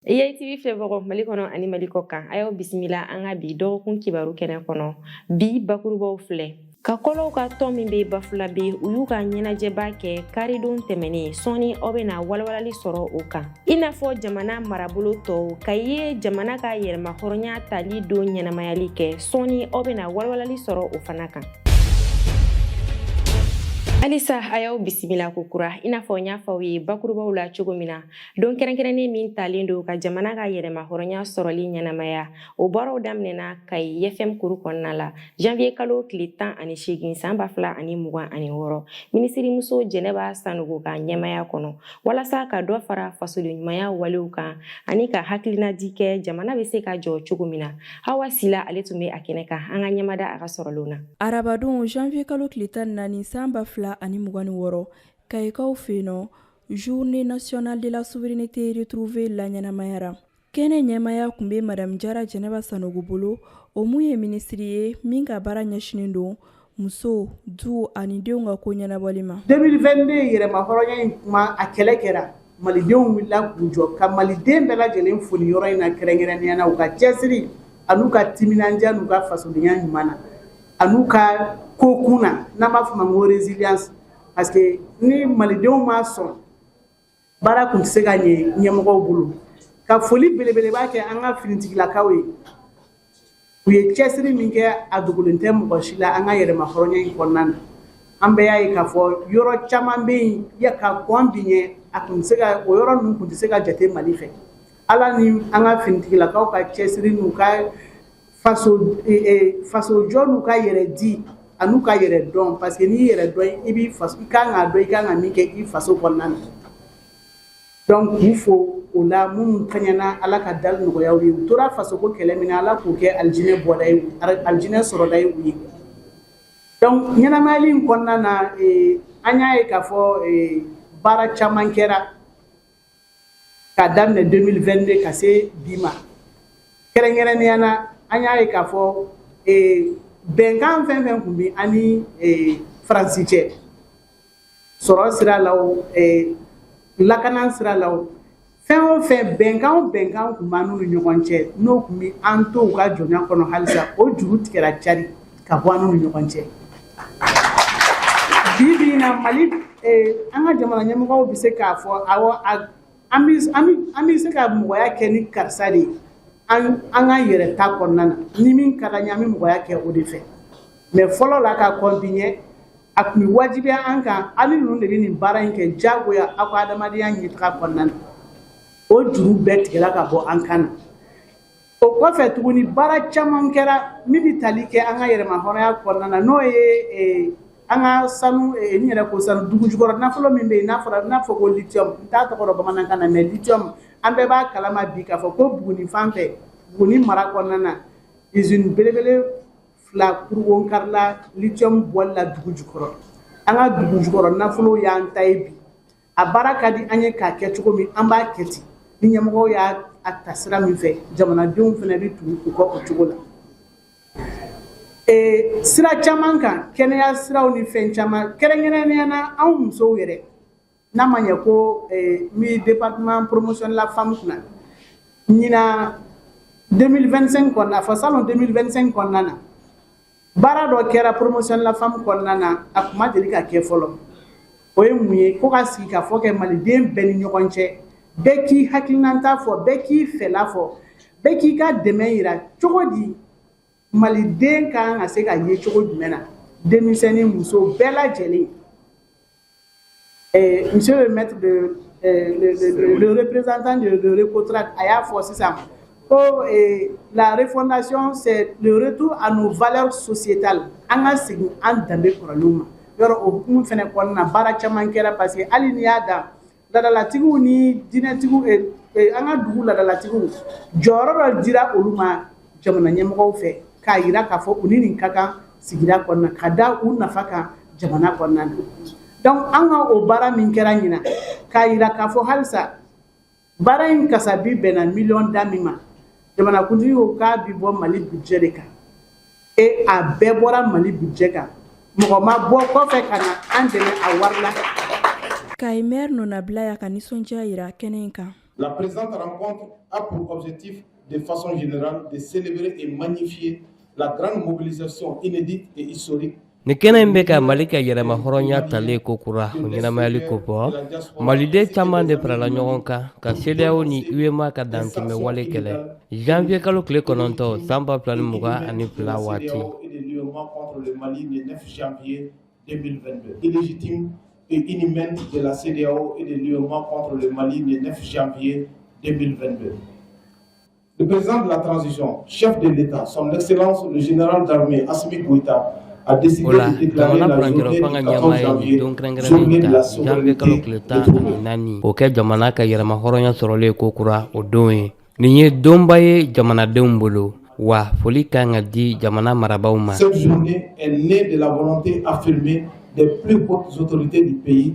EITV filɛbagaw Mali kɔnɔ ani Mali kɔ kan a y'aw bisimila an ka bi dɔgɔkun kibaru kɛnɛ kɔnɔ bi bakurubaw filɛ Kakɔlɔw ka tɔn min bɛ Bafulabe u y'u ka ɲɛnajɛba kɛ karidon tɛmɛnen sɔɔni aw bɛna walawalali sɔrɔ o kan i n'a fɔ jamana marabolo tɔw Kayi ye jamana ka yɛrɛmahɔrɔnya tali don ɲɛnamayali kɛ sɔɔni aw bɛna walawalali sɔrɔ o fana kan halisa a y'aw bisimila kokura i n'a fɔ n y'a fɔ aw ye bakurubaw la cogo min na Don kɛrɛnkɛrɛnnen min talen don ka jamana ka yɛrɛmahɔrɔnya sɔrɔli ɲɛnamaya o baaraw daminɛna Kayi IFM kuru kɔnɔna la janvier kalo tile tan ani seegin san ba fila ani mugan ani wɔɔrɔ minisirimuso jɛnɛba sanogo ka ɲɛmaya kɔnɔ walasa ka dɔ fara fasodenɲumanya walew kan ani ka hakilinadi kɛ jamana bɛ se ka jɔ cogo min na hawa sila ale tun bɛ a kɛnɛ kan an ka ɲɛmada a ka sɔrɔlenw na arabadon janvier kalo tile tan naani san ba fila ani mugan ni wɔɔrɔ kayikaw fɛ yen nɔ Journée nationale de la souveraineté retrouvée laɲɛnamayara kɛnɛ ɲɛmaaya kun bɛ madamu jara jɛnɛba sanogo bolo o min ye minisiri ye min ka baara ɲɛsinnen don musow du ani denw ka ko ɲɛnabɔli ma 2022 yɛrɛmahɔrɔnya in kuma a kɛlɛ kɛra malidenw wulila k'u jɔ ka maliden bɛɛ lajɛlen fo nin yɔrɔ in na kɛrɛnkɛrɛnnenya na u ka cɛsiri an'u ka timinandiya n'u ka fasodenya ɲuman na an'u ka kokun na n'an b'a fɔ ma ko résilience parce que ni malidenw ma sɔn baara kun tɛ se ka ɲɛ ɲɛmɔgɔw bolo ka foli belebeleba kɛ an ka finitigilakaw ye u ye cɛsiri min kɛ a dogolen tɛ mɔgɔ si la an ka yɛrɛma hɔrɔnya in kɔnɔna na an bɛɛ y'a ye k'a fɔ yɔrɔ caman bɛ yen ya ka kɔn bi ɲɛ a kun tɛ se ka o yɔrɔ ninnu kun tɛ se ka jate mali fɛ ala ni an ka finitigilakaw ka cɛsiri n'u ka fasojɔ n'u ka yɛrɛ di an'u ka yɛrɛ dɔn parce que n'i yɛrɛ dɔn i b'i ka kan dɔn i ka kan ka min kɛ i faso kɔnɔna na donc k'u fo o la minnu kaɲana ala ka dali nɔgɔya u ye u tora faso ko kɛlɛ min na ala k'o kɛ alijinɛ bɔda ye alijinɛ sɔrɔda ye u ye donc ɲɛnamayali in kɔnɔna na an y'a ye k'a fɔ baara caman kɛra k'a daminɛ 2022 ka se bi ma kɛrɛnkɛrɛnnenya na an y'a ye k'a fɔ eh, bɛnkan fɛn fɛn kun bɛ an ni eh, faransi cɛ sɔrɔ sira la o eh, lakana sira la o fɛn o fɛn bɛnkan o bɛnkan kun b'an n'u ni ɲɔgɔn cɛ n'o kun bɛ an to u ka jɔnya kɔnɔ halisa o juru tigɛra cari ka bɔ an n'u ni ɲɔgɔn cɛ bi bi na mali eh, an ka jamana ɲɛmɔgɔw bɛ se k'a fɔ awɔ an bɛ se ka mɔgɔya kɛ ni karisa de ye an ka yɛrɛta kɔnɔna na ni min ka d'an ye an bɛ mɔgɔya kɛ o de fɛ mais fɔlɔ la ka kɔn bi ɲɛ a tun bɛ wajibiya an kan aw ni ninnu de bɛ nin baara in kɛ diyagoya aw ka adamadenya ɲɛtaga kɔnɔna na o juru bɛɛ tigɛla ka bɔ an kan na o kɔfɛ tuguni baara caman kɛra min bɛ tali kɛ an ka yɛrɛmahɔrɔnya kɔnɔna na n'o ye e, an ka sanu e, n yɛrɛ ko sanu dugu jukɔrɔ nafolo min bɛ yen n'a fɔra n'a fɔ ko lithium n t'a tɔgɔ dɔn bamanankan na mais lithium an bɛɛ b'a kalama bi k'a fɔ ko Buguni fan fɛ Buguni mara kɔnɔna na usine belebele fila kurunbonkarila lithium bɔli la dugu jukɔrɔ an ka dugu jukɔrɔ nafolo y'an ta ye bi A baara ka di an ye k'a kɛ cogo min an b'a kɛ ten ni ɲɛmɔgɔw y'a a ta sira min fɛ jamanadenw fana bɛ tugu u kɔ o cogo la ee sira caman kan kɛnɛya siraw ni fɛn caman kɛrɛnkɛrɛnnenya na anw musow yɛrɛ n'a ma ɲɛ ko n bɛ département promotion de la femme kunna ɲinan 2025 kɔnɔna fɔ salon 2025 kɔnɔna na Baara dɔ kɛra promotion de la femme kɔnɔna na a tun ma deli ka kɛ fɔlɔ, o ye mun ye ko ka sigikafɔ kɛ maliden bɛɛ ni ɲɔgɔn cɛ, bɛɛ k'i hakilinata fɔ, bɛɛ k'i fɛla fɔ, bɛɛ k'i ka dɛmɛ yira cogo di maliden ka kan ka se ka ye cogo jumɛn na denmisɛnnin muso bɛɛ lajɛlen Eh, monsieur le maître de eh, le, le, le, représentant de, de Recotrade a y'a fɔ sisan ko eh, la refondation c'est le retour à nos valeurs sociétales an ka segin an danbe kɔrɔlenw ma yɔrɔ o hukumu fɛnɛ kɔnɔna baara caman kɛra parce que hali n'i y'a dan ladalatigiw ni dinɛtigiw eh, eh, an ka dugu ladalatigiw jɔyɔrɔ dɔ dira olu ma jamana ɲɛmɔgɔw fɛ k'a yira k'a fɔ u ni nin ka kan sigida kɔnɔna ka da u nafa kan jamana kɔnɔna na donc an ka o baara min kɛra ɲinan k'a yira k'a fɔ halisa baara in kasabi bɛnna miliyɔn da min ma jamanakuntigi ko k'a bɛ bɔ mali budget de kan e a bɛɛ bɔra mali budget kan mɔgɔ ma bɔ kɔfɛ ka na an dɛmɛ a wari la kayi maire nɔnabila y'a ka nisɔndiya yira kɛnɛ in kan la présente rencontre a pour objectif de façon générale de célébrer et magnifier la grande mobilisation inédite et historique Nin kɛnɛ in bɛ ka mali ka yɛrɛmahɔrɔnya tali kokura o ɲɛnamayali kofɔ maliden caman de farala ɲɔgɔn kan ka CEDEAO ni UEMOA ka dantɛmɛ wale kɛlɛ janvier kalo tile kɔnɔntɔn san ba fila ni mugan ani fila waati Le président de la transition, chef de l'État, son excellence le général d'armée Assimi Goïta, a décidé de déclarer la journée du 14 janvier journée de la souveraineté de O kɛ jamana ka yɛrɛmahɔrɔnya sɔrɔlen ko kura o don ye. Nin ye donba ye jamanadenw bolo. Wa foli kan ka di jamana marabaaw ma. Cette journée est née de la volonté affirmée des plus hautes autorités du pays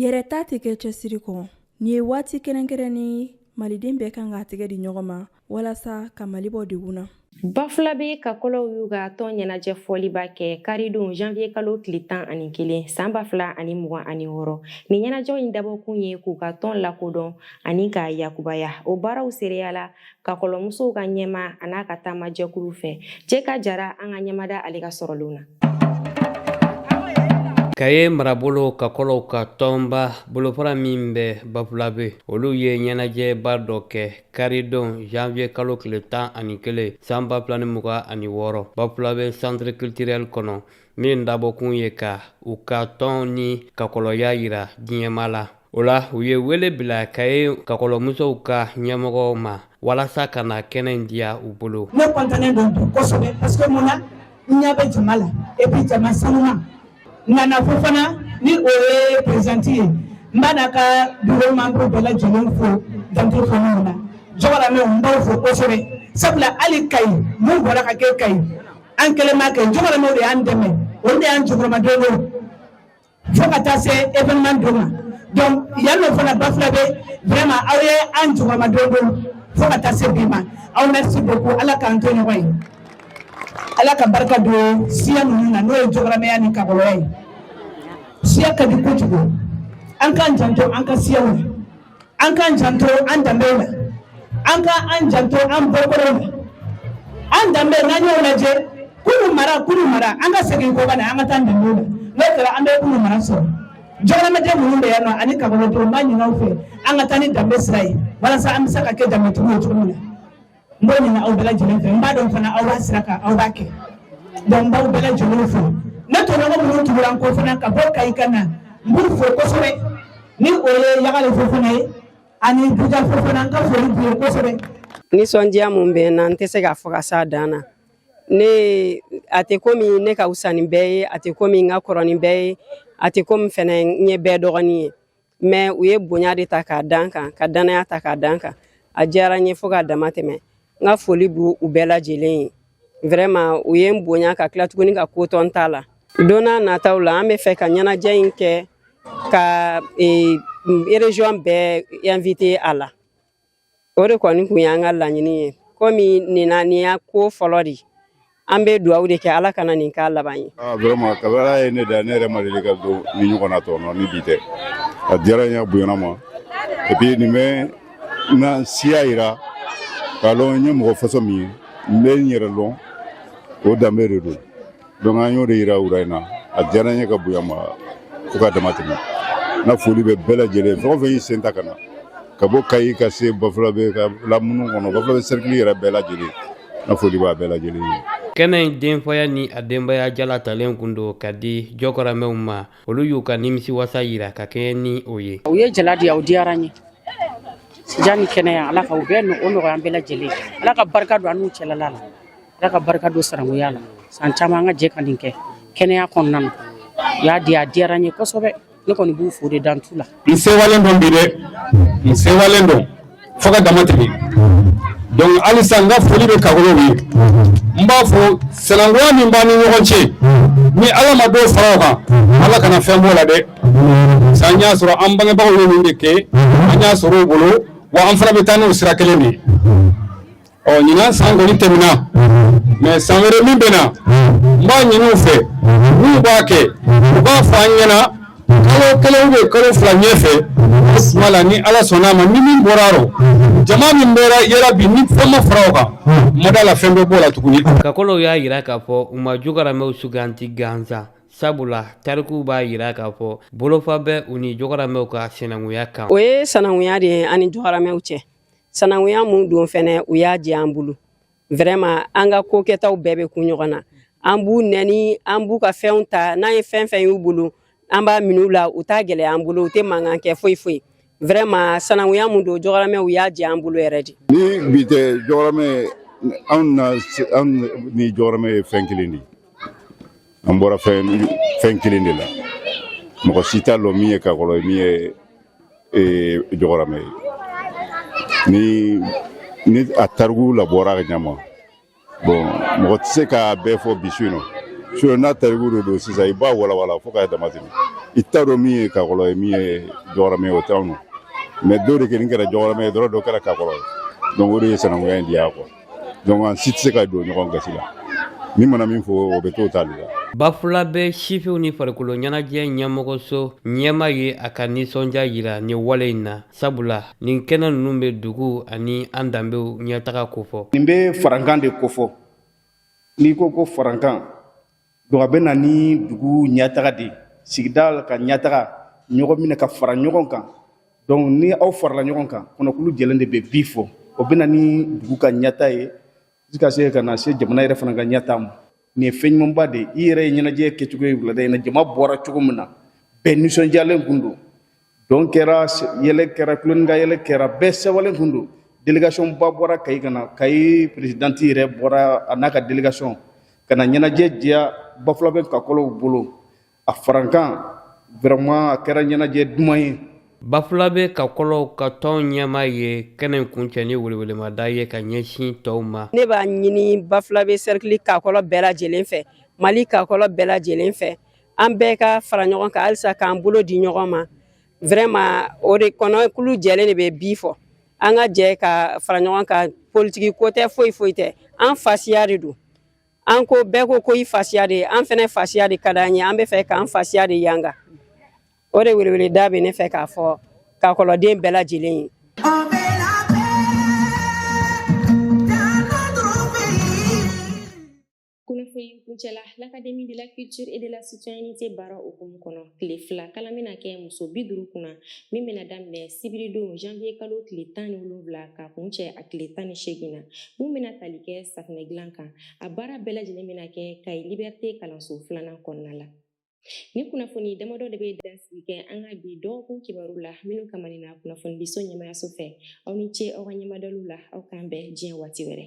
yɛrɛta tɛ kɛ cɛsiri kɔ nin ye waati kɛrɛnkɛrɛnnen maliden bɛɛ kan ka tɛgɛ di ɲɔgɔn ma walasa ka mali bɔ degun na bafulabe kakɔlɔw y'u ka tɔn ɲɛnajɛ fɔliba kɛ karidon janviye kalo tile tan ani kelen san ba fila ani mugan ani wɔɔrɔ nin ɲɛnajɛw in dabɔkun ye k'u ka tɔn lakodɔn ani k'a yakubaya o baaraw seereyala kakɔlɔmusow ka ɲɛmaa n'a ka taama jɛkulu fɛ cɛ ka jara an ka ɲɛmada ale ka sɔrɔlenw na kaye marabolo kakɔlɔw ka tɔnba bolofara min bɛ bafulabe olu ye ɲɛnajɛba dɔ kɛ karidon janvier kalo tile tan ani kelen san ba fila ni mugan ani wɔɔrɔ bafulabe centre culturel kɔnɔ min dabɔkun ye ka u ka tɔn ni kakɔlɔya yira diɲɛmaa la o la u ye wele bila kaye kakɔlɔmusow ka ɲɛmɔgɔw ma walasa ka na kɛnɛ in diya u bolo ne kɔntannen don bi kosɛbɛ parce que mun na n ɲɛ bɛ jama la et puis jama sanuma nana fofana ni o ye présidente ye n b'a n'a ka bureau membre bɛɛ lajɛlen fo dan tɛ foli na jɔgɔramɛw n b'aw fo kosɛbɛ sabula hali kayi mun bɔra ka kɛ kayi an kelen m'a kɛ jɔgɔramɛw de y'an dɛmɛ olu de y'an jukɔrɔmadon fo ka taa se événement don ma donc yan nɔ fana bafulabe vraiment aw ye an jukɔrɔmadondon fo ka taa se bi ma aw merci beaucoup ala k'an to ɲɔgɔn ye ala ka barika don siya ninnu na n'o ye jɔgɔramɛya ni kakɔlɔya ye siya ka di kojugu an k'an janto an ka siyaw la an k'an janto an danbe la an ka an janto an bɔkolo la an danbe n'an y'o lajɛ kunu mara kunu mara an ka segin kɔ ka na an ka taa danbe la n'o kɛra an bɛ kunu mara sɔrɔ jɔgɔramɛden minnu bɛ yan nɔ ani kakɔlɔdenw n b'a ɲin'aw fɛ an ka taa ni danbe sira ye walasa an bɛ se ka kɛ danbetigi ye cogo min na n b'o ɲini aw bɛɛ lajɛlen fɛ n b'a dɔn fana aw b'a sira kan aw b'a kɛ donc n b'aw bɛɛ lajɛlen fo ne tɔɲɔgɔn minnu tugura n kɔ fana ka bɔ kayi ka na n b'u fo kosɛbɛ ni o ye yagale fofana ye ani buja fofana n ka foli b'u ye kosɛbɛ nisɔndiya mun bɛ n na n tɛ se k'a fɔ ka s'a dan na a tɛ komi ne ka wusa ni bɛɛ ye a tɛ komi n ka kɔrɔ ni bɛɛ ye a tɛ komi fɛnɛ n ye bɛɛ dɔgɔnin ye mɛ u ye bonya de ta k'a da n kan ka dannaya ta k'a da n kan a diyara n ye fo ka dama tɛmɛ n ka foli b'u bɛɛ lajɛlen ye vraiment u ye n bonya ka tila tuguni ka kotɔn ta la don nataw la an b'a fɛ ka ɲɛnajɛ in kɛ ka région bɛɛ invité a la o de kɔni kun y'an ka laɲini ye komi nin y'a ko fɔlɔ de an bɛ dugawu de kɛ ala kana nin k'a laban ye ah, vraiment kabara ye ne da ne yɛrɛ ma deli ka don nin ɲɔgɔnna tɔnɔ ni bi tɛ a diyara n ye bonyana n ma et puis nin bɛ na siya yira k'a lɔn n ye mɔgɔ façon min ye n bɛ n yɛrɛ lɔn o danbe de don Donc an y'o de yira wura in na a diyara n ye ka bonya n ma fo ka dama tɛmɛ n ka foli bɛ bɛɛ lajɛlen fɛn o fɛn y'i sen ta ka na ka bɔ Kayi ka se Bafulabe ka lamunu kɔnɔ Bafulabe cercle yɛrɛ bɛɛ lajɛlen n ka foli b'a bɛɛ lajɛlen ye. Kɛnɛ in denfaya ni a denbaya jala talen kun don ka di jɔkɔramɛw ma olu y'u ka nimisiwasa yira ka kɛɲɛ ni o ye. U ye jala di yan o diyara n ye ja ni kɛnɛya Ala ka o bɛɛ o nɔgɔya an bɛɛ lajɛlen Ala ka barika don an n'u cɛla la. ala ka barika don sanankunya la san caman an ka jɛ ka nin kɛ kɛnɛya kɔnɔna na u y'a di a diyara n ye kosɛbɛ ne kɔni b'u fo de dan t'o la n sewalen don bi dɛ n sewalen don fo ka dama tɛmɛ donc halisa n ka foli bɛ kagolow ye n b'a fɔ sinankunya min b'an ni ɲɔgɔn cɛ ni ala ma dɔ fara o kan ala kana fɛn b'o la dɛ sa an y'a sɔrɔ an bangebagaw ye min de kɛ an y'a sɔrɔ u bolo wa an fana bɛ taa n'o sira kelen de ye ɔ ɲinan san kɔni tɛmɛna mɛ san wɛrɛ min bɛ na n b'a ɲini u fɛ n'u b'a kɛ u b'a fɔ an ɲɛna kalo kelen bɛ kalo fila ɲɛfɛ suma la ni ala sɔnna a ma ni min bɔra rɔ jama min bɛra yera bi ni fɛn ma fara o kan n ma da a la fɛn bɛ bɔ a la tuguni kakɔlɔw y'a yira k'a fɔ u ma jogaramɛw sugandi gansan sabula tarikuw b'a yira k'a fɔ bolofa bɛ u ni jogaramɛw ka sinankunya kan o ye sanankunya de ye ani jogaramɛw cɛ sananguya mun don fɛnɛ u y'a jɛ an bolo vraiment an ka ko kɛtaw bɛɛ bɛ kun ɲɔgɔn na an b'u nɛni an b'u ka fɛnw ta n'an ye fɛn fɛn y'u bolo an b'a min'u la u t'a gɛlɛya an bolo u tɛ mankan kɛ foyi foyi vraiment sananguya mun don jɔgɔrɔmɛw y'a jɛ an bolo yɛrɛ de ni bi tɛ jɔgɔrɔmɛ anw na anw ni jɔgɔrɔmɛ ye fɛn kelen de ye an bɔra fɛn kelen de la mɔgɔ si t'a lɔn min ye kakɔlɔ ye min ye eh, jɔgɔrama ye ni ni a tariku labɔra ka ɲama bon mɔgɔ tɛ se k'a bɛɛ fɔ bi su in na su in n'a tariku de don sisan i b'a walawala fo k'a dama tɛmɛ i t'a dɔn min ye kakɔlɔ ye min ye jɔgɔrama ye o t'anw na mɛ dɔw de kɛlen kɛra jɔgɔrama ye dɔrɔn dɔ kɛra kakɔlɔ ye donc o de ye sanankunya in diya quoi donc an si tɛ se ka don ɲɔgɔn gasi la min mana min fɔ o bɛ t'o ta de la Bafulabɛ sifinw ni farikolo ɲɛnajɛ ɲɛmɔgɔso ɲɛma ye a ka nisɔndiya jira nin wale in na sabula nin kɛnɛ ninnu bɛ dugu ani an danbew ɲɛtaga kofɔ nin bɛ farankan de kofɔ n'i ko ko farankan Don a bɛ na ni dugu ɲɛtaga de sigida ka ɲɛtaga ɲɔgɔn minɛ ka fara ɲɔgɔn kan donc ni aw farala ɲɔgɔn kan kɔnɔkulu jɛlen de bɛ bi fɔ o bɛ na ni dugu ka ɲɛtaa ye i ka se ka na se jamana yɛrɛ fana ka ɲɛtaa ma nin ye fɛn ɲumanba de i yɛrɛ ye ɲɛnajɛ kɛcogo ye wulada in na jama bɔra cogo min na bɛɛ nisɔndiyalen tun don dɔn kɛra yɛlɛ kɛra tulon ka yɛlɛ kɛra bɛɛ sɛwalen tun don delegasiyɔnba bɔra kayi ka na kayi perezidanti yɛrɛ bɔra a n'a ka delegasiyɔn ka na ɲɛnajɛ diya bafulabɛ kakɔlɔw bolo a farankan vraiment a kɛra ɲɛnajɛ duman ye bafulabɛ kakɔlɔw ka tɔn ɲɛma ye kɛnɛ kuncɛ ni welewelemada ye ka ɲɛsin tɔw ma ne b'a ɲini bafulabɛ sɛrikili kakɔlɔ bɛɛ lajɛlen fɛ mali kakɔlɔ bɛɛ lajɛlen fɛ an bɛɛ ka fara ɲɔgɔn kan halisa k'an bolo di ɲɔgɔn ma vraiment o de kɔnɔkulu jɛlen de bɛ bi fɔ an ka jɛ ka fara ɲɔgɔn kan politiki ko tɛ foyi foyi tɛ an fasiya de don an ko bɛɛ ko ko i fasiya de ye an fɛnɛ fasiya de ka d'an ye an b'a fɛ k'an fasiya de yanga o de weleweleda bɛ ne fɛ k'a fɔ kakɔlɔden bɛɛ lajɛlen ye kunnafoni kuncɛla l'académie de la culture et de la citoyenneté baara hukumu kɔnɔ tile fila kalan bɛna kɛ muso bi duru kunna min bɛna daminɛ sibiridon janvier kalo tile tan ni wolonwula ka kuncɛ a tile tan ni seegin na min bɛna tali kɛ safinɛ dilan kan a baara bɛɛ lajɛlen bɛna kɛ kayi liberté kalanso filanan kɔnɔna la nin kunnafoni damadɔ de bɛ dansigi kɛ an ka bi dɔgɔkun kibaru la minnu kamanina kunnafonidiso ɲɛmayaso fɛ aw ni ce aw ka ɲɛmadaliw la aw k'an bɛn diɲɛ waati wɛrɛ